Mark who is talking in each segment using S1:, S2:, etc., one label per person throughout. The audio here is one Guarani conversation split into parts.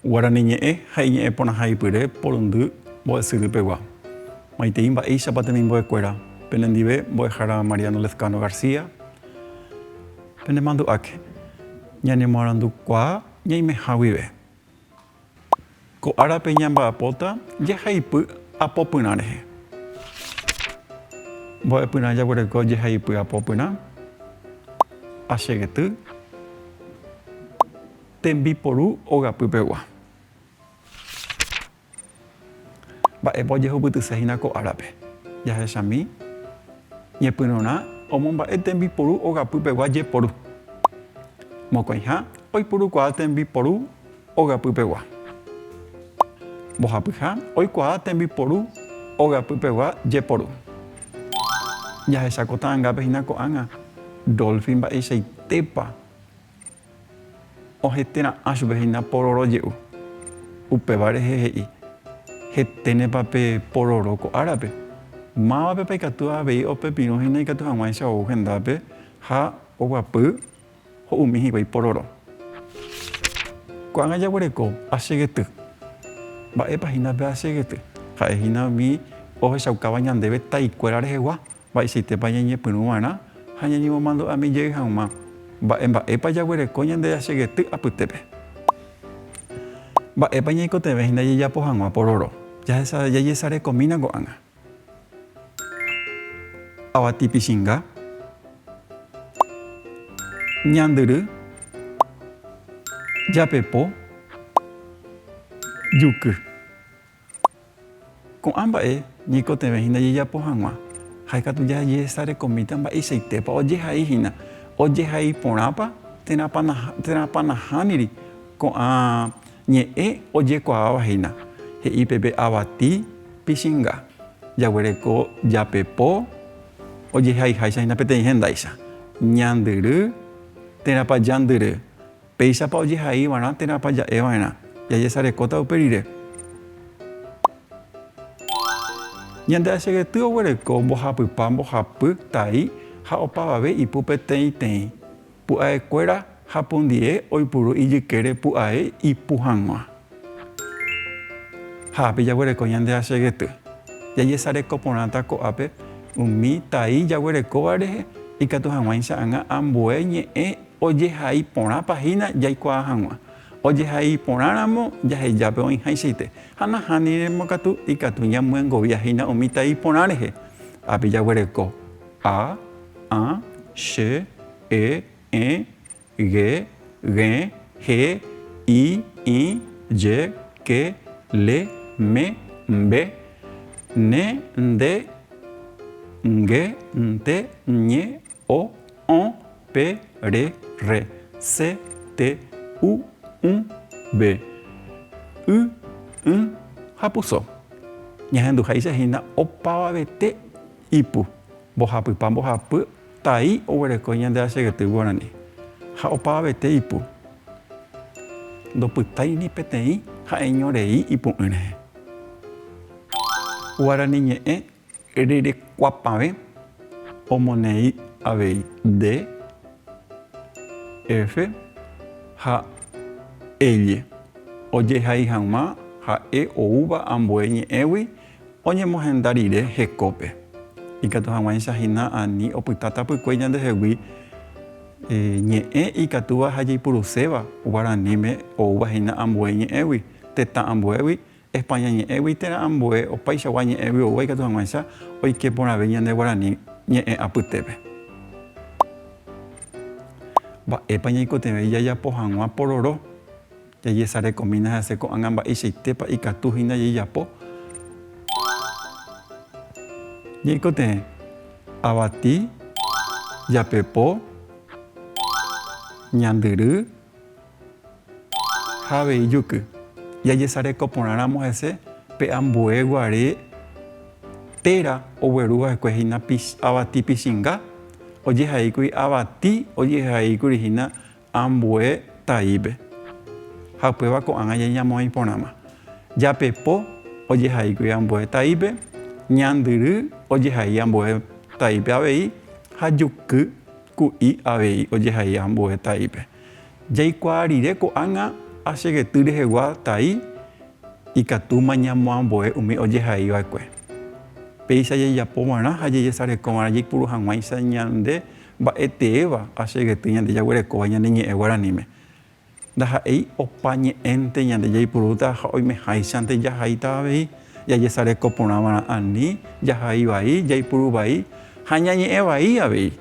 S1: Guarani ñe'ẽ ha iñe'ẽ porãha ipyre porundy mbo'esyry pegua. Maitei mba'éichapa temimbo'e kuéra, penendive Mbo'ehára Mariano Lezcano García, penemandu'áke. Ñanemoarandukuaa ñaimeha guive. Ko árape ñamba'apóta jehaipy apopyrã rehe. Mbo'epyrã jaguereko jehaipy apopyrã, achegety, tembiporu ogapy pegua. Mba'épa ojehupytyse hína ko árape? Jahechami ñepyrũrã omomba'e tembiporu ogapy pegua jeporu. Mokõiha oipurukuaa tembiporu ogapy pegua. Mbohapyha oikuaa tembiporu ogapy pegua jeporu. Jahecha ko ta'angápe hína ko'ág̃a Dolphy mba'eichaitépa Ohete ra'ã chupe hína pororo je'u. Upéva rehe he'i, Heténepa pe pororo ko árape? Mávapepa ikatu avei opepirũ hína ikatu hag̃uáicha ou hendápe ha oguapy ho'umi hikuái pororo. Ko'ág̃a jaguereko ache gety. Mba'épa hína pe ache gety? Ha'e hína umi ohechaukáva ñandéve taikuéra rehegua. Mba'eichaitépa ñañepyrũ va'erã ha ñañemomandu'ami jey hag̃ua? Mba'e mba'épa jaguereko ñande jasegety apytépe? Mba'épa ñaikotevẽ hína jajapo hag̃ua pororo? Jajesarekomína ko'ág̃a avati pichinga, ñandyry, japepo, juky. Ko'ã mba'e ñaikotevẽ hína jajapo hag̃ua, ha ikatu jajehesarekomíta mba'eichaitépa ojehai hína, ojehai porãpa térãpa nahániri ko'ã ñe'ẽ ojekuaáva hína, he'i peve avati Pichinga, jaguereko japepo ojehaiháicha hína peteĩ hendáicha, Ñandyry, térãpa jandyry. Péichapa ojehaiva'erã térãpa ja'eva'erã? Jajesarekóta upe rire. Ñande achegety oguereko mbohapypa mbohapy tai ha opavave ipu peteĩteĩ. Pu'aekuéra ha pundie oipuru ijykére pu'ae ipu hag̃ua. Ha ápe jaguereko ñande achegety. Jajesareko porãta ko'ápe umi tai jaguerekóva rehe ikatu hag̃uáicha ag̃a ambue ñe'ẽ Ojehai porãpa hína jaikuaa hag̃ua. Ojehai porãramo jahejápe oĩháichaite, ha nahániramo katu ikatu ñamyengovia hína umi tai porã rehe. Ápe jaguereko, a, ã, che, e, ẽ, ge, g̃e, he, i, ĩ, je, ke, le, me, mbe, ne, nde, nge, nte, ñe, O, õ, pe, re, rre, se, te, u, ũ, ve, y, ỹ ha puso. Ñahenduháicha hína opavavete ipu, mbohapypa mbohapy tai oguereko ñande rachegety guarani, ha opavavete ipu ndopytái ni peteĩ ha'eño rei ipu'ỹ rehe. Guarani ñe'ẽ Rerekuapavẽ omoneĩ avei de, efe ha elle ojehai hag̃ua ha'e oúva ambue ñe'ẽgui oñemohenda rire hekópe. Ikatu hag̃uáicha hína ani opyta tapykue ñandehegui ñe'ẽ ikatúva ha jaipuruséva guaraníme oúva hína ambue ñe'ẽgui, tetã ambuégui España ñe'ẽgui térã ambue opaichagua ñe'ẽ vy'oúva ikatu hag̃uáicha oike porãve ñande guarani ñe'ẽ apytépe. Mba'épa ñaikotevẽi jajapo hag̃ua pororo? Jajesarekomína hese ko'ág̃a mba'eichaitépa ikatu hína jeijapo. Ñaikotevẽ, avati, japepo, ñandyry. Ha avei juky. Jajesareko porãramo hese pe ambue guare téra ogueru va'ekue hína avati pichinga, ojehaíkuri avati ojehaíkuri hína ambue taípe. Ha upéva ko'ág̃a jañamoĩ porãma. Japepo ojehaíkuri ambue taípe, ñandyry ojehai ambue taípe avei ha juky ku'i avei ojehai ambue taípe. Jaikuaa rire ko'ág̃a achegety rehegua tai ikatúma ñamoamboe umi ojehai va'ekue. Péicha jajapo va'erã ha jajesareko va'erã jaipuru hag̃uáicha ñande mba'eteéva achegety ñande jaguerekóva ñane ñe'ẽ guaraníme. Ndaha'éi opa ñe'ẽnte ñande jaipurúta ha oimeháichante jahaíta avei jajesareko porã va'erã ani jahai vai, jaipuru vai ha ñañe'ẽ vai avei.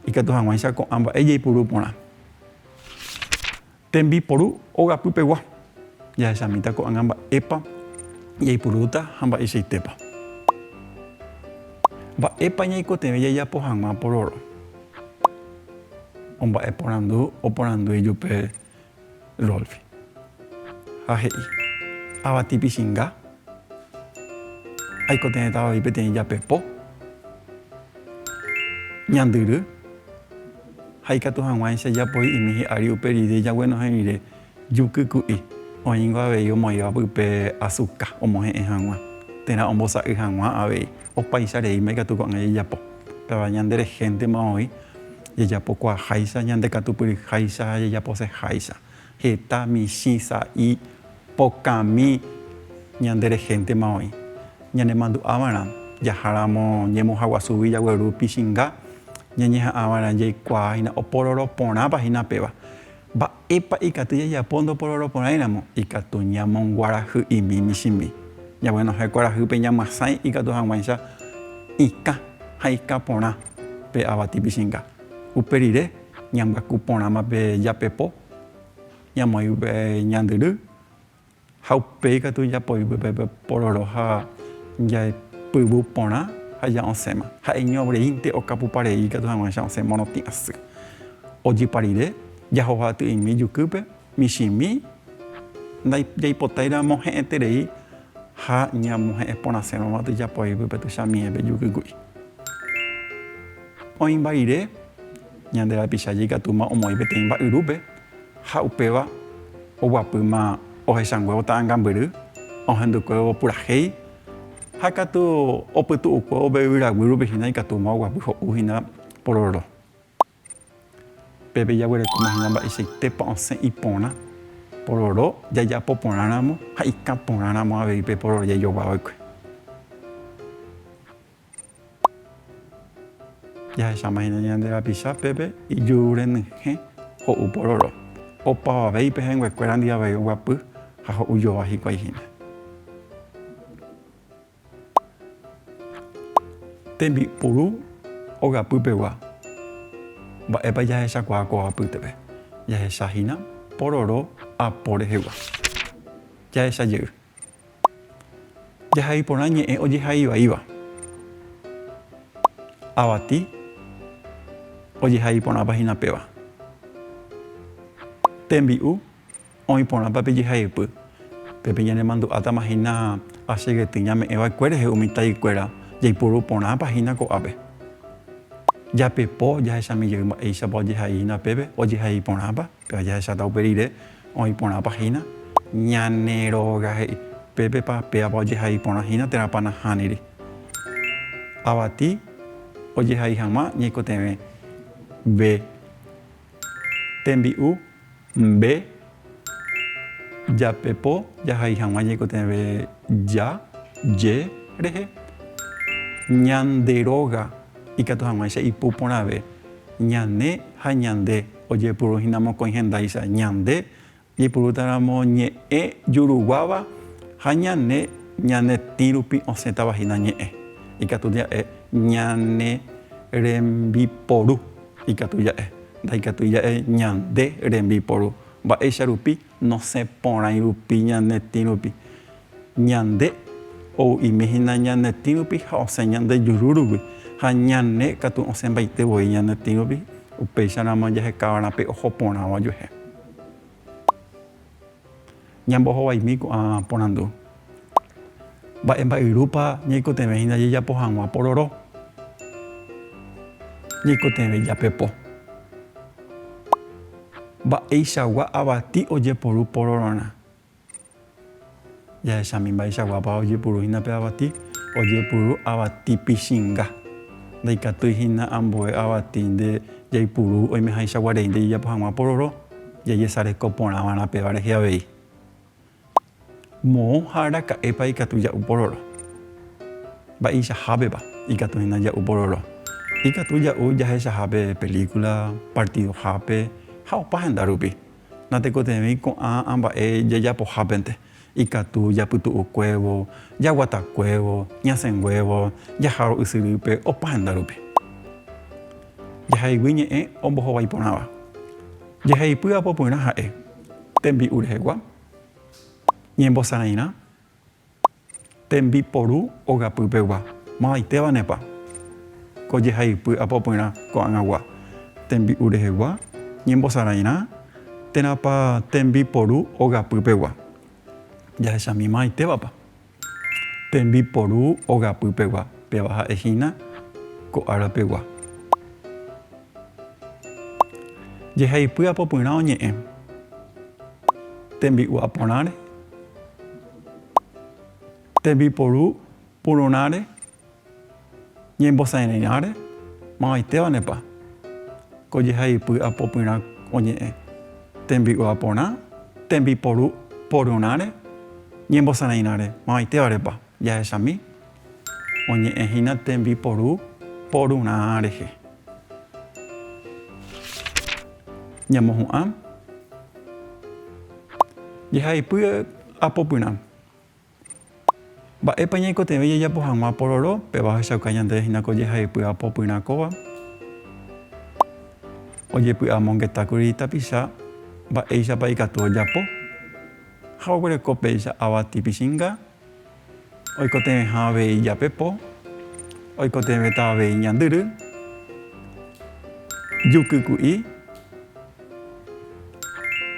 S1: Ikatu hag̃uáicha ko'ã mba'e jaipuru porã. Tembiporu ogapy pegua. Jahechamíta ko'ág̃a mba'épa jaipurúta ha mba'eichaitépa. Mba'épa ñaikotevẽ jajapo hag̃ua pororo? Omba'eporandu oporandúi jupe Rolfi ha he'i, Avati pichinga, aikotevẽtava voi peteĩ japepo, ñandyry ha ikatu hag̃uáicha japoi'imi hi'ári upe rire jaguenohẽ rire. Juky ku'i, oĩngo avei omoĩva pype asuka omohe'ẽ hag̃ua, térã ombosa'y hag̃ua avei. Opaicha reíma ikatu ko'ág̃a jajapo. Péva ñande rehéntema voi, jajapokuaaháicha, ñandekatupyryháicha ha jajaposeháicha. Heta, michĩ, sa'i, pokãmi, ñande rehéntema voi. Ñanemandu'ava'erã, jaháramo ñemuhaguasúgui jagueru pichinga, ñañeha'ãva'erã jaikuaahína opororo porãpa hína péva. Mba'épa ikatu jajapo ndoporohoro porãiramo? Ikatu ñamonguarahy'imi michĩmi. Ñaguenohẽ kuarahype ñamyasãi ikatu hag̃uáicha ikã ha ikã porã pe avati pichĩnga. Upe rire, ñambyaku porãma pe japepo, ñamoĩ upe ñandyry Ha upéi ikatu ijapoigue pe pororo ha jaepyvu porã ha ja'osẽma. Ha'eñoreínte okapupa rei ikatu hag̃ua cha'osẽ morotĩ asy. Ojypa rire, jahoha ty'imi ijukýpe, michĩmi jaipotairamma mohe'ẽterei ha ñamohe'ẽ porãsérõma tuijapoigue pe tuchamiépe ijukýgui. Oĩmba rire, ñande rapicha jaikatúma omoĩ peteĩ mba'yrúpe Ha upéva oguapýma ohechanguévo ta'angambyry, ohendukuévo purahéi, ha katu opytu'ukuévo pe yvyraguy rupi hína ikatúma oguapy ho'u hína pororo. Pépe jaguerekóma hína mba'eichaitépa osẽ iporã pororo jajapo porã ramo ha ikã porã ramo avei pe pororo jaijoguava'ekue. Jahecháma hína ñande rapicha pépe ijuru renyhẽ ho'u pororo, opavavéi pe hẽnguekuéra ndi avei oguapy ha ho'u jova hikuái hína. Tembi'puru ogapy pegua, mba'épa jahechakuaa kóva apýtepe? Jahecha hína pororo apo rehegua. Jahecha jey. Jahai porã ñe'ẽ ojehaivaíva. Avati ojehai porãpa hína péva. Tembi'u oĩ porãpa pe jehaypy, pe peñanemandu'átama hína ace gety ñame'ẽ vaekue rehe umi taikuéra jaipuru porãpa hína ko'ápe. Japepo jahechami jey mba'éichapa ojehai hína pépe ojehai porãpa. Péva jahecháta upe rire oĩ porãpa hína ñane róga he'i, pépepa pévapa ojehai porã hína térãpa nahániri. Avati ojehai hag̃ua ñaikotevẽ ve tembi'u mbe jape po jahai hag̃ua ñaikotevẽ ja, je rehe. Ñande róga ikatu hag̃uáicha ipu porãve ñane ha ñande. Ojepuru hína mokõi hendáicha, ñande jaipurútaramo ñe'ẽ juruguáva ha ñane ñane tĩ rupi osẽtava hína ñe'ẽ, ikatu ja'e ñane rembiporu, ikatu ja'e ndaikatúi ja'e ñande rembiporu. Mba'éicha rupi Nosẽ porãi rupi ñane tĩ rupi. Ñande ou'imi hína ñane tĩ rupi ha osẽ ñande juru rupi, ha ñane katu osẽmbaite voi ñane tĩ rupi, upéicharamo jahekávarã pe oho porãva ojuehe. Ñambohovaimi ko'ã porandu. Mba'e mba'yrúpa ñaikotevẽ hína jajapo hag̃ua pororo? Ñaikotevẽ japepo. Mba'eichagua avati ojeporu porororã? Jahechami mba'eichaguápa ojepuru hína pe avati, ojepuru avati pichinga. Ndaikatúi hína ambue avati nde jaipuru oimehaichagua rei nde jajapo hag̃ua pororo, jajesareko porã va'erã péva rehe avei. Moõ ha araka'épa ikatu ja'u pororo? Mba'eichahápepa ikatu hína ja'u pororo? Ikatu ja'u jahechahápe pelíkula, partidohápe ha opa henda rupi. Natekotevẽi ko'ã amba'e jajapohápente, ikatu japytu'ukuévo, jaguatakuévo, ñasẽnguévo, jahárõ ysyrýpe opa henda rupi. Jahaygui ñe'ẽ ombohovái porãva. Jeheipy apopyrã ha'e. Tembi'u rehegua, ñembosarãirã, tembiporu ogapy pegua. Mavaitévanepa ko jehay'ypy apopyrã ko'ag̃agua, tembi'u rehegua, ñembosarãirã, térãpa tembiporu ogapy pegua. Jahechami mavaitévapa Tembiporu ogapy pegua. Péva ha'e hína ko ára pegua. Jehaipy apopyrã oñe'ẽ. Tembi'u aporãre. Tembiporu pururãre Ñembosa'erẽi'ãre, mavaitevanepa ko jehaipy apopyrã oñe'ẽ, tembi'ua porã, tembiporu porurãre, ñembosa'erẽi'ãre, mavaitevarepa jahechami oñe'ẽ hína tembiporu porurã rehe. Ñamohu'ã jehaipy apopyrã. Mba'épa ñaikotevẽ jajapo hag̃ua pororo? Péva ohechauka ñandéve hína ko jehaipy apo pyrã kóva. Ojepy'amongetákuri tapicha mba'éichapa ikatu ojapo ha oguereko péicha avati pichinga, oikotevẽha avei jape po, oikotevẽta avei ñandyry, juky ku'i,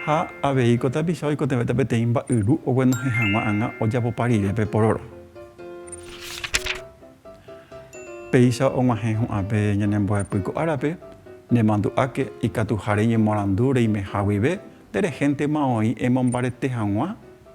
S1: Ha avei ko tapicha oikotevẽta peteĩ mba'yru oguenohẽ hag̃ua anga ojapopa rire pe pororo. Péicha og̃uahẽ hu'ãpe ñanembo'epy ko árape, nemandu'áke ikatuha reñemorandu reimeha guive nde rehéntema oĩ emombarete hag̃ua